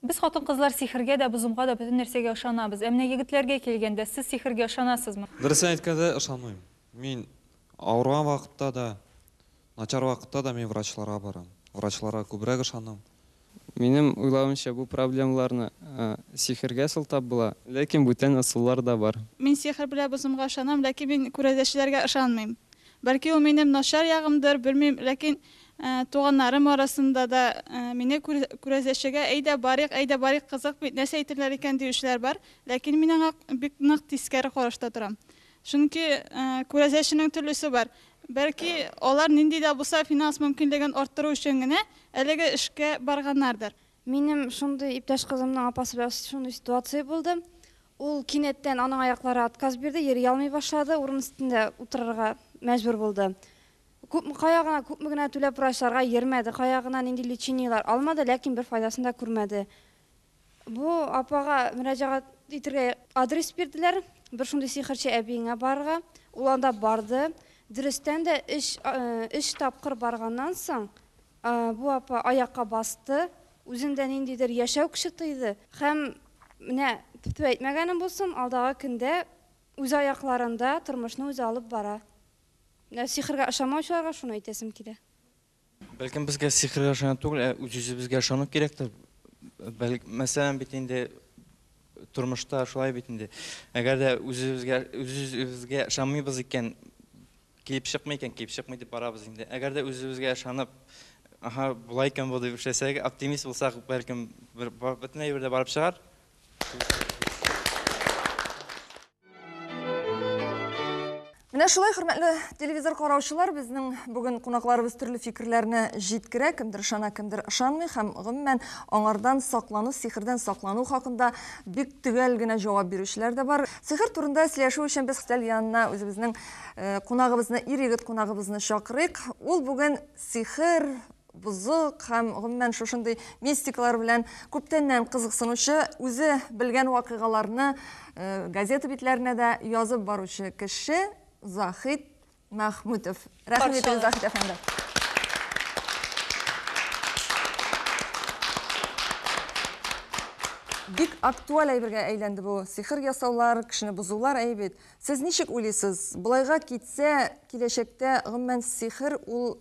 Без хатын-кызлар сихергә дә, бозымга да, бөтен нәрсәгә ышанабыз. Ә менә егетләргә килгәндә, сез сихергә ышанасызмы? Дөресен әйткәндә, ышанмыйм. Мин авырган вакытта да, начар вакытта да мин врачларга барам. Врачларга күбрәк ышанам. Минем уйлавымча, бу проблемаларны сихергә сылтап була. Ләкин бүтән ысуллар да бар. Мин сихер белән бозымга ышанам, ләкин мин күрәзәчеләргә ышанмыйм. Бәлки ул минем начар ягымдыр, белмим, ләкин Туганнарым арасында да мине күрәзәчегә әйдә барыйк, әйдә барыйк, кызык бит, нәрсә әйтерләр икән диючеләр бар. Ләкин мин аңа бик нык тискәре карашта торам. Чөнки күрәзәченең төрлесе бар. Бәлки, алар нинди дә булса финанс мөмкинлеген арттыру өчен генә әлеге эшкә барганнардыр. Минем шундый иптәш кызымның апасы белән шундый ситуация булды. Ул кинәттән аның аяклары отказ бирде, йөри алмый башлады, урын өстендә утырырга мәҗбүр булды. Күпме, кая гына, күпме генә түләп врачларга йөрмәде, кая гына нинди лечениеләр алмады, ләкин бер файдасын да күрмәде. Бу апага мөрәҗәгать итергә адрес бирделәр, бер шундый сихерче әбиеңә барырга. Ул анда барды. Дөрестән дә, өч, өч тапкыр барганнан соң, бу апа аякка басты, үзендә ниндидер яшәү көче тойды һәм, менә, тф-тфү әйтмәгәнем булсын, алдагы көндә үз аякларында тормышны үзе алып бара. Ә сихергә ышанмаучыларга шуны әйтәсем килә. Бәлкем безгә сихергә ышану түгел, ә үз-үзебезгә ышану кирәктер. Бәлк, мәсәлән, бит инде тормышта шулай бит инде. Әгәр дә үзебезгә үзебезгә ышанмыйбыз икән, килеп чыкмый икән, килеп чыкмый дип барабыз инде. Әгәр дә үзебезгә ышанып, аһа, болай икән бу дип эшләсәк, оптимист булсак, бәлкем бөтен әйбер дә барып чыгар. Менә шулай, хөрмәтле телевизор караучылар, безнең бүген кунакларыбыз төрле фикерләрне җиткерә, кемдер ышана, кемдер ышанмый һәм гомумән аңардан саклану, сихердән саклану хакында бик төгәл генә җавап бирүчеләр дә бар. Сихер турында сөйләшү өчен без стәл янына үзебезнең э, кунагыбызны, ир-егет кунагыбызны чакырыйк. Ул бүген сихер, Бозык һәм, гомумән, шушындый мистикалар белән күптәннән кызыксынучы, үзе белгән вакыйгаларны газета битләренә дә язып баручы кеше Заһит Мәхмүтов. Рәхим итегез, Заһит әфәнде. Бик актуаль әйбергә әйләнде бу. Сихер ясаулар, кешене бозулар әйе бит. Сез ничек уйлыйсыз, болайга китсә, киләчәктә, гомумән, сихер ул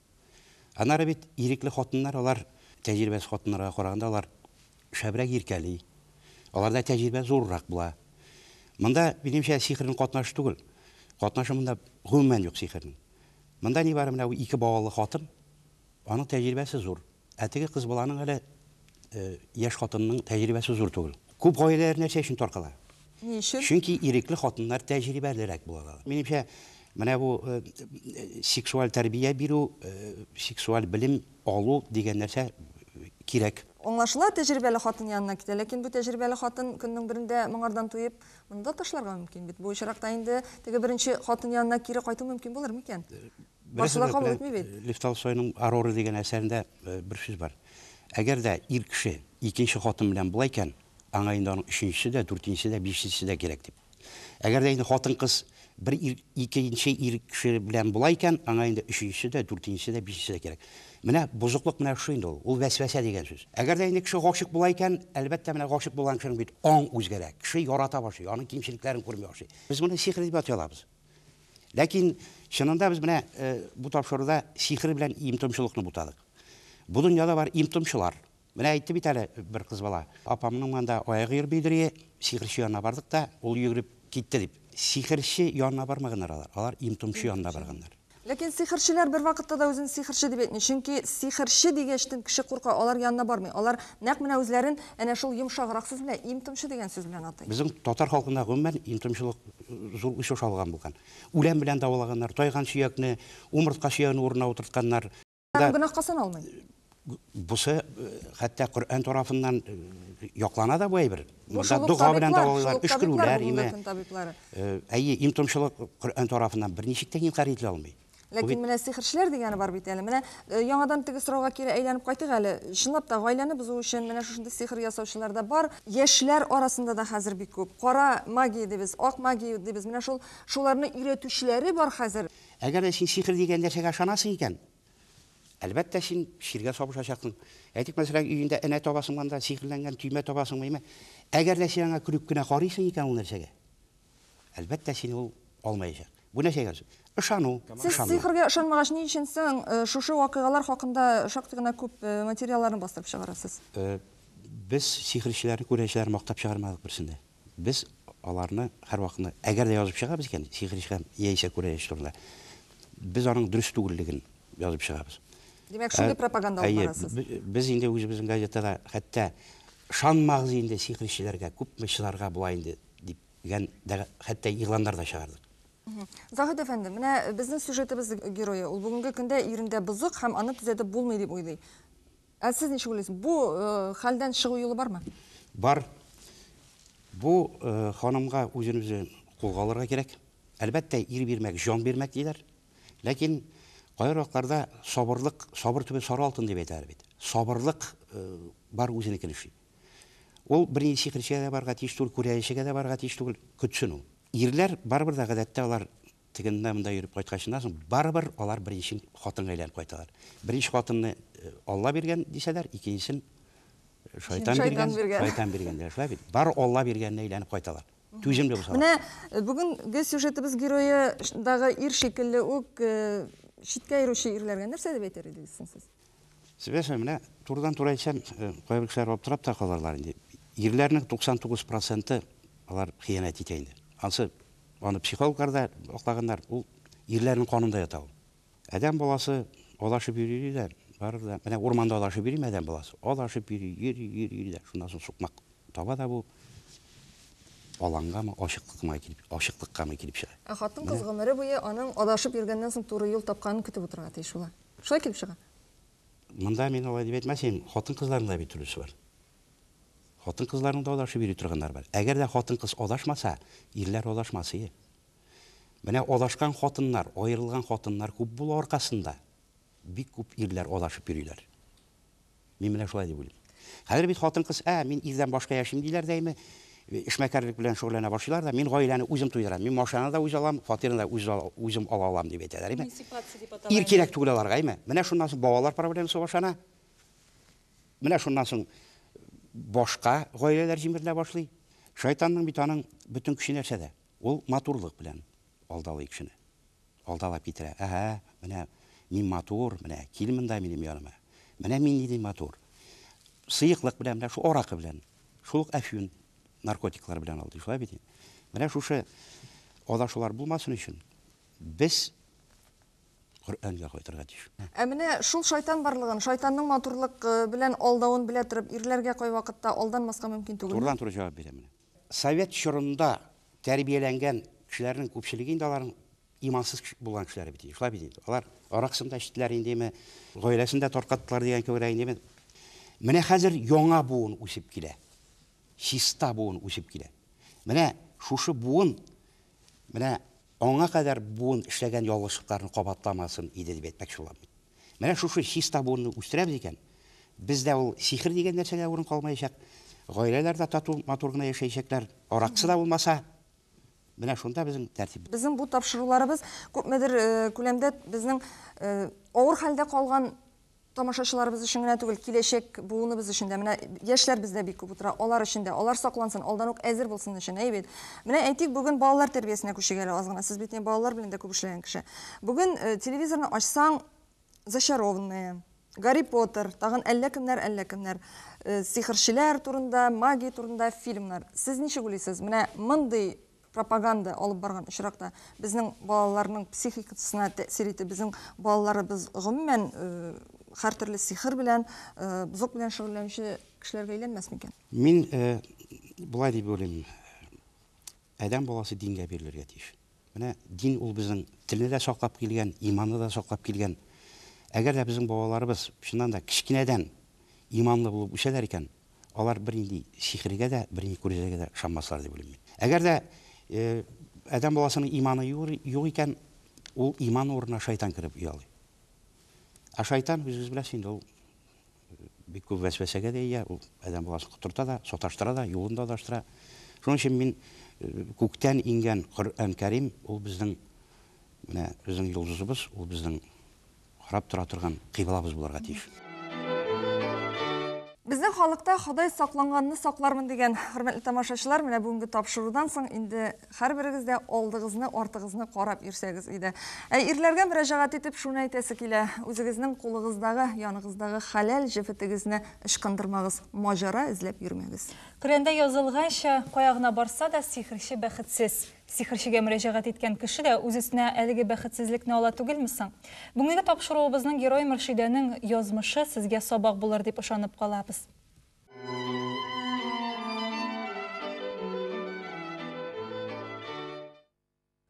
Аннары бит ирекле хатыннар, алар, тәҗрибәсез хатыннарга караганда, алар шәбрәк иркәли, аларда тәҗрибә зуррак була. Монда, минемчә, сихернең катнашы түгел. Катнашы монда гомумән юк сихернең. Монда нибары менә бу ике балалы хатын, аның тәҗрибәсе зур. Ә теге кыз баланың әле яшь хатынның тәҗрибәсе зур түгел. Күп гаиләләр нәрсә өчен таркала? Ни өчен? Чөнки ирекле хатыннар тәҗрибәлерәк булалар. Минемчә, менә бу сексуаль тәрбия бирү, сексуаль белем алу дигән нәрсә кирәк. Аңлашыла, тәҗрибәле хатын янына китә, ләкин бу тәҗрибәле хатын көннең берендә моңардан туеп, моны да ташларга мөмкин бит. Бу очракта инде теге беренче хатын янына кире кайту мөмкин булыр микән? Барсы да кабул итми бит. Лев Толстойның Ароры дигән әсәрендә бер сүз бар. Әгәр дә ир кеше икенче хатын белән була икән, аңа инде аның өченчесе дә, дүртенчесе дә, бишенчесе дә кирәк дип. Әгәр дә инде хатын-кыз бер ир, икенче ир кеше белән була икән, аңа инде өченчесе дә, дүртенчесе дә, бишенчесе дә кирәк. Менә бозыклык менә шушы инде ул. Ул вәсвәсә дигән сүз. Әгәр дә инде кеше гашыйк була икән, әлбәттә, менә гашыйк булган кешенең бит аң үзгәрә. Кеше ярата башлый, аның кимчелекләрен күрми башлый. Без моны сихер дип атый алабыз. Ләкин чынында без менә э, бу тапшыруда сихер белән имтомчылыкны бутадык. Бу дөньяда бар имтомчылар. Менә әйтте бит әле бер кыз бала. Апамның монда аягы йөрмей дери, сихерче янына бардык та, ул йөгереп китте дип. Сихерче янына бармаганнар алар, алар имтомчы янына барганнар. Ләкин сихерчеләр бервакытта да үзен сихерче дип әйтми, чөнки сихерче дигәчтен кеше курка, алар янына бармый, алар нәкъ менә үзләрен әнә шул йомшаграк сүз белән, им-томчы дигән сүз белән атый. Безнең татар халкында гомумән им-томчылык зур үч аша алган булган. Үлән белән давалаганнар, тайган чөякне, умыртка чөягенең урынына утыртканнар. Һәм гөнаһка саналмый. Бусы хәтта Коръән тарафыннан яклана да бу әйбер. Монда дога белән дәвалыйлар, өшкерүләр име. Әйе, им томчылык Коръән тарафыннан берничек тә инкар ителә алмый. Ләкин менә сихерчеләр дигәне бар бит әле. Менә яңадан теге сорауга кире әйләнеп кайтыйк әле. Чынлап та гаиләне бозу өчен менә шушындый сихер ясаучылар да бар. Яшьләр арасында да хәзер бик күп. Кара магия дибез, ак магия дибез. Менә шул шуларны өйрәтүчеләре бар хәзер. Әгәр дә син сихер дигән нәрсәгә ышанасың икән, әлбәттә, син чиргә сабышачаксың. Әйтик, мәсәлән, өендә энә табасың монда, сихерләнгән төймә табасыңмы, яме. Әгәр дә син аңа көлеп кенә карыйсың икән ул нәрсәгә, әлбәттә, сине ул алмаячак. Бу нәрсә икән соң? Ышану, ышанмау. Сез сихергә ышанмагач, ни өчен соң шушы вакыйгалар хакында шактый гына күп материалларны бастырып чыгарасыз? Без сихерчеләрне, күрәчеләрне мактап чыгармадык берсен дә. Без аларны һәрвакытны, әгәр дә язып чыгабыз икән, сихер ишкән яисә күрә яшь турында, без аның дөрес түгеллеген язып чыгабыз. Димәк, шундый пропаганда алып барасыз? Әйе, без инде үзебезнең газетада хәтта шанмагыз инде сихер ишчеләргә, күпме чыдарга була инде дигән дә хәтта игъланнар да чыгардык. Заһит әфәнде, менә безнең сюжетыбыз герое, ул бүгенге көндә ирендә бозык һәм аны төзәтеп булмый дип уйлый. Ә сез ничек уйлыйсыз, бу хәлдән чыгу юлы бармы? Бар. Бу ханымга үзен-үзе кулга алырга кирәк. Әлбәттә, ир бирмәк, җан бирмәк диләр. Ләкин кайбер вакытларда сабырлык, сабыр түбе сары алтын дип әйтәләр бит. Сабырлык бар үзенекен эшли. Ул бернинди сихерчегә дә барырга тиеш түгел, күрәлешчегә дә барырга тиеш түгел, көтсен ул. Ирләр барыбер дә гадәттә алар Тегеннән-монда йөреп кайткачыннан соң, барыбер алар беренче хатынга әйләнеп кайталар. Беренче хатынны Алла биргән, дисәләр, икенчесен шайтан биргән, шайтан биргән, диләр. Шулай бит? Бары Алла биргәненә әйләнеп кайталар. Түземле булсалар. Менә бүгенге сюжетыбыз герое дагы ир шикелле үк читкә йөрүче ирләргә нәрсә дип әйтер идегез соң сез? Сөйләшәм, менә турыдан-туры әйтсәм, кайбер кешеләр аптырап та калырлар инде. Ирләрнең 99 проценты алар хыянәт итә инде. Ансы, аны психологлар да аклаганнар, ул ирләрнең канында ята ул. Адәм баласы адашып йөри-йөри дә, барыбер дә, менә урманда адашып йөриме адәм баласы? Адашып йөри, йөри, йөри, йөри дә, шуннан соң сукмак таба да бу, алангамы, ачыклыкмы килеп, ачыклыккамы килеп чыга. Ә хатын-кыз гомере буе аның адашып йөргәннән соң туры юл тапканын көтеп утырырга тиеш була. Шулай килеп чыга. Монда мин алай дип әйтмәсем, хатын-кызларның да бит өлеше бар. Хатын-кызларның да адашып йөри торганнары бар. Әгәр дә хатын-кыз адашмаса, ирләр адашмасые. Менә адашкан хатыннар, аерылган хатыннар күп була аркасында, бик күп ирләр адашып йөриләр. Мин менә шулай дип уйлыйм. Хәзер бит хатын-кыз, ә, мин ирдән башка яшим, диләр дәйми, эшмәкәрлек белән шөгыльләнә башлыйлар да, мин гаиләне үзем туйдырам, мин машинаны да үз алам, фатирны да үз үзем ала алам, дип әйтәләр, әйме? Эмансипация дип атала. Ир кирәк түгел аларга, әйме? Менә шуннан соң балалар проблемасы башлана. Менә шуннан соң башка гаиләләр җимерелә башлый. Шайтанның бит аның бөтен көче нәрсәдә? Ул матурлык белән алдалый кешене. Алдалап китерә. Әһә, менә мин матур, менә кил монда минем яныма. Менә мин нинди матур. Сыеклык белән, менә шу аракы белән. Шул ук әфьюн наркотиклар белән алдый. Шулай бит инде. Менә шушы адашулар булмасын өчен без Коръәнгә кайтырга тиеш. Ә менә шул шайтан барлыгын, шайтанның матурлык белән алдавын белә торып, ирләргә кайвакытта алданмаска мөмкин түгелме? Турыдан-туры җавап бирәм менә. Совет чорында тәрбияләнгән кешеләрнең күпчелеге инде аларның имансыз кеше булган кешеләре бит инде, шулай бит инде. Алар аракысын да эчтеләр индеме, гаиләсен дә таркаттылар дигән кебек индеме. Менә хәзер яңа буын үсеп килә. Чиста буын үсеп килә. Менә шушы буын Менә аңа кадәр буын эшләгән ялгышлыкларны кабатламасын иде дип әйтмәкче булам мин. Менә шушы чиста буынны үстерәбез икән, бездә ул сихер дигән нәрсәгә урын калмаячак, гаиләләр дә тату-матур гына яшәячәкләр, аракысы да булмаса, менә шунда безнең тәртип. Безнең бу тапшыруларыбыз күпмедер күләмдә безнең авыр хәлдә калган, Тамашачыларыбыз өчен генә түгел, киләчәк буыныбыз өчен дә, менә яшьләр бездә бик күп утыра, алар өчен дә, алар саклансын, алдан ук әзер булсын өчен, әйе бит? Менә әйтик, бүген балалар тәрбиясенә күчик әле аз гына, сез бит инде балалар белән дә күп эшләгән кеше. Бүген телевизорны ачсаң, Зачарованные, Гарри Поттер, тагын әллә кемнәр, әллә кемнәр, сихерчеләр турында, магия турында фильмнар. Сез ничек уйлыйсыз, менә мондый Пропаганда алып барган очракта безнең балаларның психикатсына тәэсир итеп, безнең балаларыбыз гомумән хәртөрле сихер белән, бозык белән шөгыльләнүче кешеләргә әйләнмәс микән? Мин болай дип уйлыйм, адәм баласы дингә бирелергә тиеш. Менә дин ул безнең телне дә саклап килгән, иманны да саклап килгән. Әгәр дә безнең балаларыбыз чыннан да кечкенәдән иманлы булып үсәләр икән, Алар бернинди сихергә дә, бернинди күрәзәгә дә ышанмаслар дип уйлыйм мин. Әгәр дә адәм баласының иманы юк икән, ул иман урынына шайтан кереп оялый. Ә шайтан, үзегез беләсез инде, ул бик күп вәсвәсәгә дә ия, ул адәм баласын котырта да, саташтыра да, юлын да адаштыра. Шуның өчен мин күктән иңгән Коръән Кәрим, ул безнең менә безнең йолдызыбыз, ул безнең карап тора торган кыйблабыз булырга тиеш. Безнең халыкта Ходай сакланганны саклармын дигән. Хөрмәтле тамашачылар, менә бүгенге тапшырудан соң инде һәрберегез дә алдыгызны, артыгызны карап йөрсәгез иде. Ә ирләргә мөрәҗәгать итеп шуны әйтәсе килә, үзегезнең кулыгыздагы, яныгыздагы хәләл җефетегезне ычкындырмагыз, маҗара эзләп йөрмәгез. Коръәндә язылганча, кая гына барса да, сихерче бәхетсез. Сихерчегә мөрәҗәгать иткән кеше дә үз өстенә әлеге бәхетсезлекне ала түгелме соң? Бүгенге тапшыруыбызның герое Мөршидәнең язмышы сезгә сабак булыр дип ышанып калабыз.